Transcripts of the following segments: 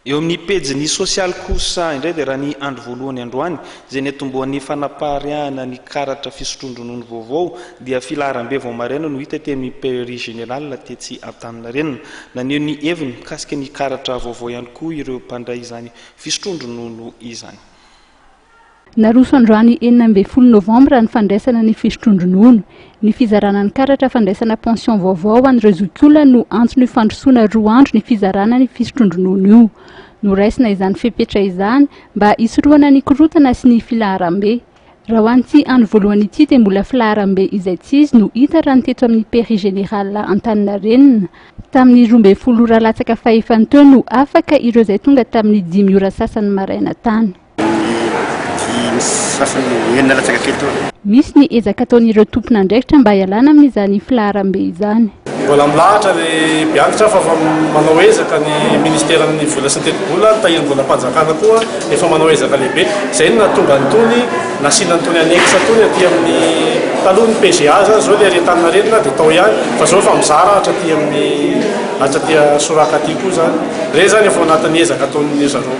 Eo amin'ny pejiny sosialy kosa indray dia raha ny andro voalohany androany izay niatombohan'ny fanapariahana ny karatra fisotroan-dronono vaovao dia filaharam-be vao maraina no hita teny amin'ny Pairie Générale tetsy Antaninarenina. Naneho ny heviny mikasika ny karatra vaovao ihany koa ireo mpandray izany fisotroan-dronono izany. Naroso androany enina ambin'ny folo novambra ny fandraisana ny fisotroan-dronono. Ny fizarana ny karatra fandraisana pension vaovao ho an'ireo zokiolona no antony fandrosoana roa andro ny fizarana ny fisotroan-dronono io. Noraisina izany fepetra izany mba hisorohana ny korontana sy ny filaharam-be. Raha ho an'ity andro voalohany ity dia mbola filaharam-be izaitsizy no hita raha ny teto amin'ny Pairie Générale Antaninarenina. Tamin'ny roa ambin'ny folo ora latsaka fahefany teo no afaka ireo izay tonga tamin'ny dimy ora sasany maraina tany. Misy ny ezaka ataon'ireo tompon'andraikitra mba hialana amin'izany filaharambe izany. Mbola milahatra ny mpianatra fa efa manao ezaka ny Minisiteran'ny vola sy ny tetibola, ny Tahirim-bolam-panjakana koa efa manao ezaka lehibe. Izay no nahatonga an'itony nasiana an'itony annexe itony aty amin'ny, taloha ny PGA izany, izao ilay ery Antaninarenina dia tao ihany fa izao efa mizara hatraty amin'ny, hatraty Soraka aty koa izany. Ireny izany efa ao anatin'ny ezaka ataon'izareo.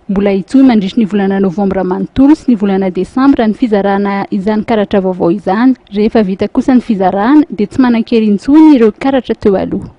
Mbola hitohy mandritry ny volana novambra manontolo sy ny volana desambra ny fizarana izany karatra vaovao izany. Rehefa vita kosa ny fizarana dia tsy manan-kery intsony ireo karatra teo aloha.